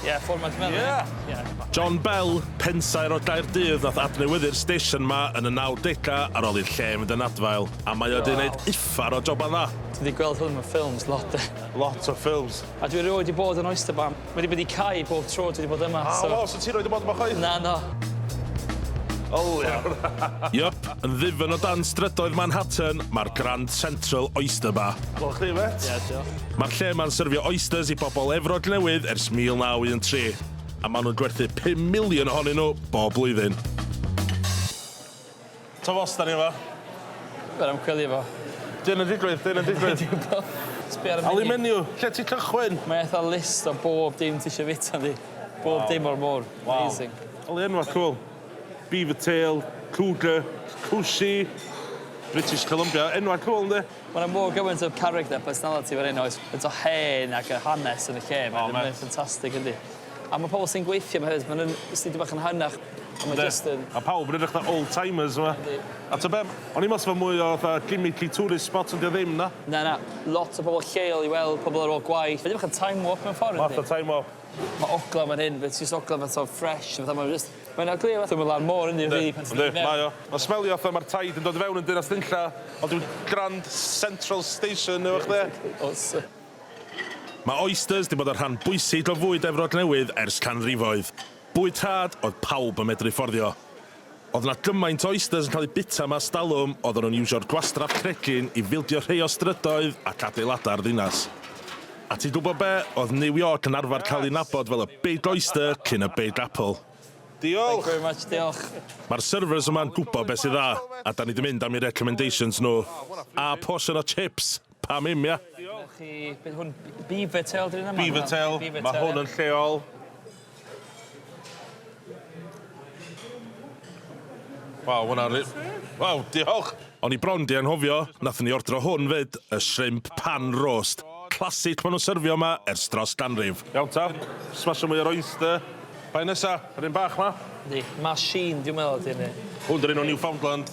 Ie, fformat fel yna. Ie! Ie. John Bell, pensaer o Gaerdydd nath adnewyddu'r stesion 'ma yn y nawdega ar ôl i'r lle fynd yn adfail, a mae o 'di neud uffar o joban dda. Dwi 'di gweld hwn mewn ffilms lot de. Lot o ffilms. A dwi erioed 'di bod yn Oyster Bar. Mae 'di bod i cau bob tro dwi 'di bod yma, so... O, so ti erioed 'di bod yma chwaith? Na, na. O iawn. Yep, yn ddifyn o dan strydoedd Manhattan, mae'r Grand Central Oyster Bar. Diolch i chdi mêt. Ie, diolch. Mae'r lle yma'n syrfio oysters i bobl Efrog Newydd ers 1913, a maen nhw'n gwerthu pum miliwn ohonyn nhw bob blwyddyn. Twf os da ni yma. Yr ymchwilio fo. Dyn yn digwydd, dyn yn digwydd. Sbio ar y menu. menu, lle ti cychwyn? Mae eitha list o bob dim ti eisiau fita ynddi. Bob wow. dim o'r môr. Wow. Amazing. Oli enwa cool. Beaver tail, cougar, cwsi, British Columbia. Enwa cool ynddi. Ma' 'na mor gymaint o character personality fan 'yn oes? Faint o hen ac y hanes yn y lle 'ma. O ma'... Mae o'n ffantastig yndi? A ma' pobol sy'n gweithio 'ma hefyd ma' nw'n jyst dipyn bach yn hynach a ma' jyst yn... Yndi. Ma' pawb yn edrych fatha old timers yma. Yndi. A t'o' be'? O'n i'n me'wl sa fe mwy o fatha gimmicky tourist spot on' 'di o ddim na? Na na. Lot o bobol lleol i weld pobol ar ôl gwaith. Mae 'di bach yn time warp mewn ffor yndi? Math o time warp. Ma' ogla man hyn reit jyst ogla fatha fresh fatha ma' fe jyst mae'n ogla fatha ma' lan môr yndi rili pan ti'n dod i mewn. Yndi mae o. Ma'n smelio fatha ma'r taid yn dod i fewn yn Dinas Dinlla ond dyw Grand Central Station efo chdi. Mae oysters 'di bod yn rhan bwysig o fwyd Efrog Newydd ers canrifoedd. Bwyd rhad oedd pawb yn medru fforddio. Oedd na gymaint o oysters yn cael eu bita mas dalwm, oedden nhw'n iwsio'r gwastraff cregyn i fildio rhei o strydoedd ac adeiladau'r ddinas. A ti'n gwybod be, oedd New York yn arfer cael ei nabod fel y Big Oyster cyn y Big Apple. Diolch! Mae'r servers yma'n gwybod beth sy'n dda, a 'dan ni 'di mynd am eu recommendations nhw. A portion o chips! Pam 'im, ia? Diolch i... Be' 'di hwn? Beaver tail 'di hwnna? Beaver tail. Beaver tail. Ma' hwn yn lleol. Waw, ma' wnna ri-... Waw, diolch! O'n i bron 'di anghofio, nathon ni ordro hwn 'fyd, y shrimp pan roast. Classic ma' nhw'n syrfio 'ma ers dros ganrif. Iawn ta, smasho mwy o'r oyster. Pa un nesa? Yr un bach 'ma? Yndi, machine dwi'n meddwl ydi hynny. Hwn 'di'r un o Newfoundland.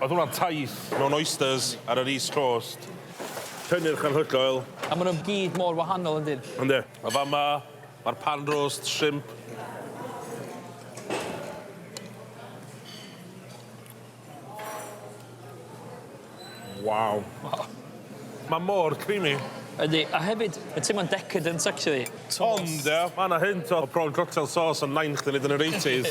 Oedd hwnna'n taith mewn oysters ar yr East Coast. Cynnyrch anhygoel. A maen nhw gyd mor wahanol yn dyn? Yndi. A fama, mae'r pan roast shrimp. Waw. Waw. Mae mor creamy. Yndi, a hefyd, mae'n teimlo'n decadent actually. Ond, ia, mae 'na hint o prawn cocktail sauce yn Nain chdi 'fyd yn yr eighties.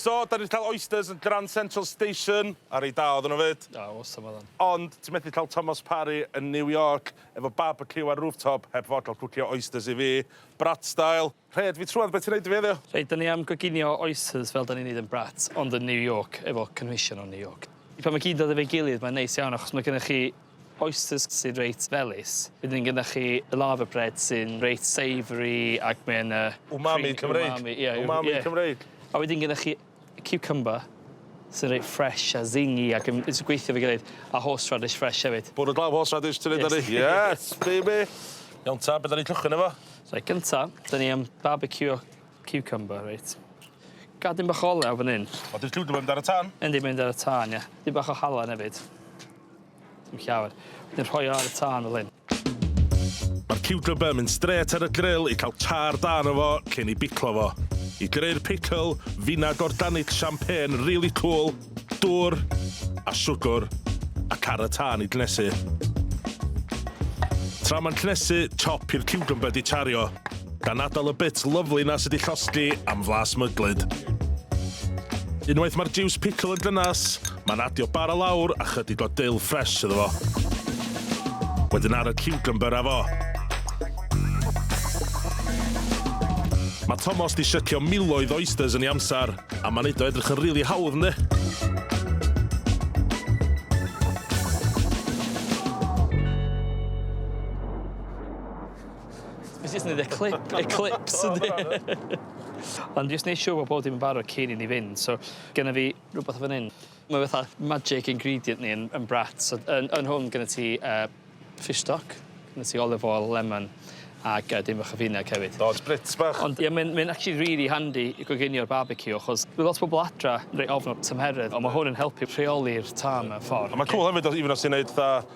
So, 'dan ni 'di ca'l oysters yn Grand Central Station, a reit da oedden nhw 'fyd. O, awesome oedden. Ond ti methu ca'l Thomas Parry yn New York efo barbeciw ar rooftop heb fod ca'l cwcio oysters i fi, brat style. Rhed fi trwad be' ti'n neud i fi heddiw? Reit, 'dan ni am goginio oysters fel 'dan ni'n neud yn brat, ond yn New York efo cynhwysion o New York. Pan ma' gyd dod efo'i gilydd mae'n neis iawn achos ma' gynnoch chi Oysters sy'n reit felys. Wedyn gyda chi lava bread sy'n reit savoury ac mae yna... Umami Cymreig. Umami, ie. Umami Cymreig. A wedyn gyda chi cucumber sy'n reit fresh a zingy ac yn jyst yn gweithio efo'i gilydd, a horseradish fresh hefyd. Bwrw glaw horseradish ti'n neud ar 'ny? Yes baby! Iawn ta, be' 'dan ni'n cychwyn efo? Reit, gynta, 'dan ni am barbeciwio ciwcymbyr, reit. Gad dim bach o olew fan 'yn. O 'di'r ciwcymbyr mynd ar y tân? Yndi, mynd ar y tân, ie. Dipyn bach o halen hefyd. Dim llawer. Wedyn rhoi o ar y tân fel hyn. Mae'r ciwcymber yn mynd strêt ar y gril i cael tar da arno fo cyn ei biclo fo. I greu'r pickle, finag organic champagne rili cŵl, dŵr a siwgr a car y tân i gnesu. Tra mae'n cnesu, chop i'r ciwcymber 'di tario. Gan atal y bits lyfli 'na sy 'di llosgi am flas myglyd. Unwaith mae'r jiws pickle yn gynnes, mae'n adio bara lawr a chydig o dill ffres iddo fo. Wedyn ar y cucumber a fo. Mae Tomos di sycio miloedd o oysters yn ei amser, a mae'n neud o edrych yn rili hawdd, yndi? Nes i jyst neud y clip eclipse yndi? Ond jyst neu' siŵr bo' bob dim yn barod cyn i ni fynd so genna fi rwbeth fan 'yn ma' fatha magic ingredient ni yn yn Brat so yn yn hwn gynno ti yy fish stock ma' ti olive oil lemon ag yy dipyn bach o finieg hefyd. O spritz bach. Ond ie mae'n mae'n actually rili handi i goginio barbeciw achos ma' lot o bobol adra reit ofn y tymheredd on' ma' hwn yn helpu rheoli'r tân mewn ffor. A ma'n cŵl hefyd os even os ti'n neud fatha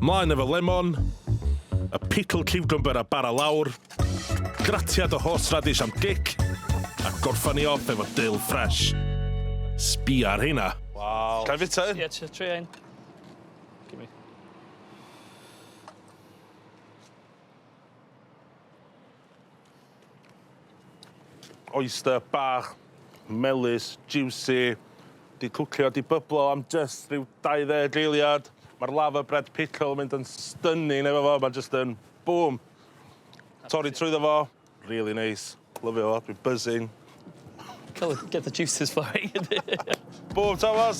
Mlaen efo lemon, y pickled ciwcymbyr a bara lawr, gratiad o horseradish am gic, a gorffan ni off efo dill ffresh. Sbia ar heina. Waw. Ga i fita un? Ie, trio trio un. Gimme. Oyster bach, melys, jiwsi, 'di cwcio, 'di byblo am jyst rhyw 20 eiliad. Ma'r lava bread pickle yn mynd yn stunning efo fo, ma' jyst yn bŵm! Torri trwyddo fo, rili neis, lyfio fo, dwi'n buzzing. Cool, get the juices flowing. Bŵm Tomos!